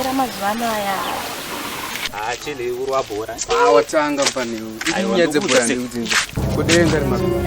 Era mazuvano aya achili kurwa bhora awatanga panewe inyaya dzebhora ndikudzinza kudenga rimazuvano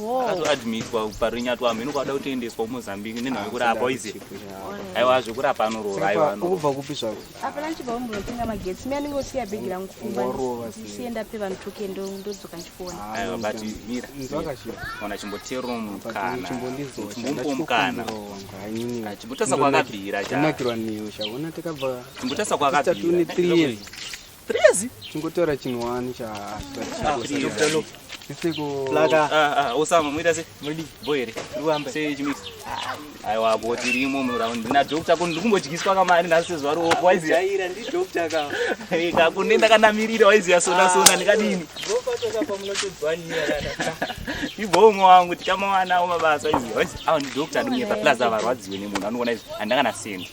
akazoadmitwa parinyatwa mheno kwada kutoendeswa kumozambique nenhau yekurapa oize aiwa zvekurapa anorova aiwaukubva kupi zvako apana ndichibva kumbonotenga magetsi mi anenge osiya bhegi rangu kumbasiye ndape vanhu toke ndodzoka ndichikuona aiwa ah, but mira ona chimboteero mukanachimbombo mukana chimbotasa kwakabvira chimbotasa kwakabvira Prezi. Chingotora chinhu wani cha. Plaka. Ah ah, Osama muita se. Mudi boy here. Ruwamba. Sei chimisa. Aiwa bo tirimo mu round. Na doctor kun ndikumbodyiswa kamari nhasi zuva ro wise. Jaira ndi doctor ka. Eh ka kun nenda kanamirira wise ya sona sona ndikadini. Bo patoka pa munotodzwa nyaya kana. Ibongo wangu tikamawana wo mabasa izi. Wise awu ndi doctor ndimye pa plaza varwadziwe nemunhu anoona izvi. Andanga na sendi.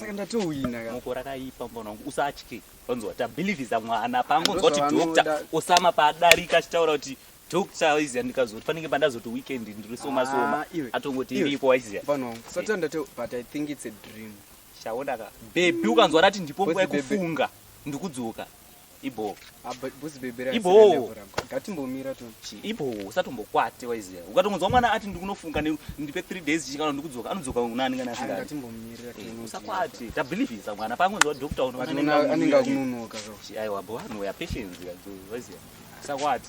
saka ndatowina ka mukora kaipa mwana wangu usatye wanzwa tabhilivhiza mwana paangonzwa kuti doctor osama paadarika achitaura kuti doctor waiziya ndikazoti fanike pandazoti weekend ndiri soma soma ah, atongoti iripo waiziya mwana wangu usatya ndati but i think it's a dream shaonaka bebi ukanzwa rati ndipo nguva yekufunga ndikudzoka ibhoo ibhoo ngatimbomira tochi ibhoo usatombokwate waiziva ukatongonzwa mwana ati ndikunofunga ndipe three days chichikana ndikudzoka anodzoka unani kana asingaatiusakwate eh, tabelievisa mwana paangonzwa doctor unoanenge akunonoka aiwa bhoo anoya patience waiziva usakwate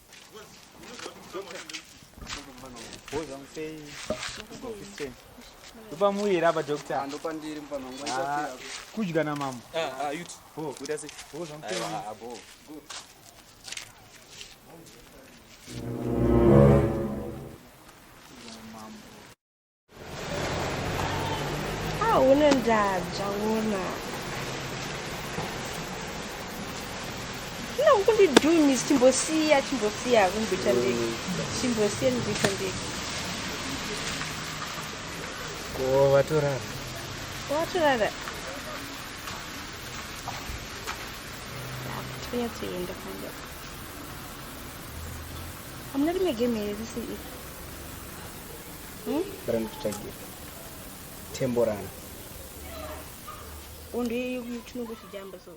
ndopa muuye here apa doctor Ah, kudya namambo Hauna ndaa zvaona. Zvino kundidhumi chimbosiya chimbosiya kumbita ndege. Chimbosiya ndibita ndege. Ko vatorara. Watorara. Tanya tuenda kwanza. Hamuna rimwe game here risi iri. Hmm? Bara ndikutsvagire. Temborana. Undi chinongo chijamba so.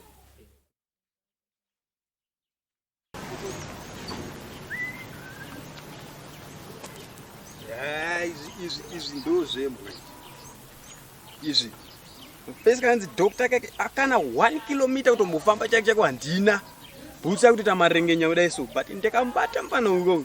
Ah, izvi izvi izvi ndozvembwe izvi pese kanzi doctor kake akana one kilometer kutombofamba chake chako handina bhutsa kutoita marengenya kudai so but ndakambata mfana uko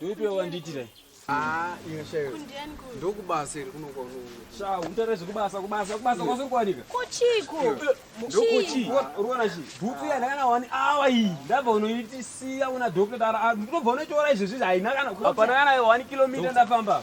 Ndoipe wandiitira. Ah, ino shayo. Ndokubasa iri kuno kwa unono. Sha, untare zvekubasa kubasa kubasa kwazvo kwanika. Kuchiko. Ndokuchi. Ruona chi. Bhuku yana kana wani awa iyi. Ndabva unoiti siya una doctor dara. Ndinobva unotora izvezvi haina kana. Hapana kana 1 km ndafamba.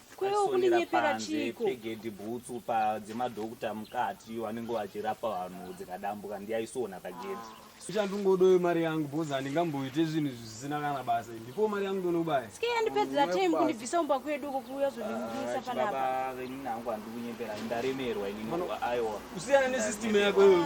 kwewo kundinyepera chiko pegedhi bhutsu padzemadhokuta mukati iyo anenge vachirapa vanhu dzikadambuka ndiyaisona pagedhi ichandingodoyo mari yangu bhozi handingamboite zvinhu zvisina kana basa ndipo mari yangu ndonobaya ske yandipedzera time kundibvisa umba kwedu uko kuuya zondimisa ah, panapa inini hangu handikunyepera ndaremerwa inini aiwa kusiyana nesystem yako iyoyo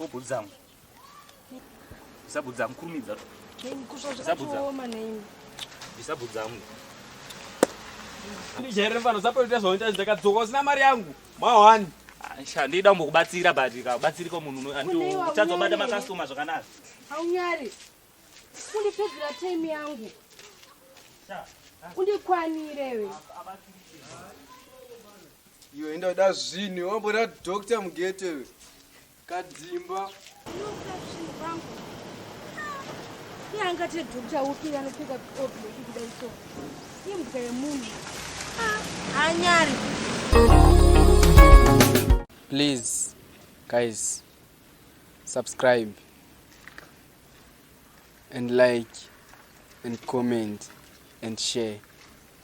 Obudzamo. Isabudzamo kurumidza. Kusva zvakaoma neimi. Isabudzamo. Ndijaire mfana usapoita zvaunoita ndakadzoka usina mari yangu. Mawani. Aisha ndida kumbokubatsira but ukabatsirika munhu uchadzobata makastoma zvakanaka. Haunyari. Kundipedzera time yangu. Undikwanire we. Iwe enda uda zvinhu wambona doctor mugete iwe. Kadzimba. Iye angati doctor upi anopfeka oblo kudai so. Imbwa yemunhu. Anyari. Please guys subscribe and like and comment and share.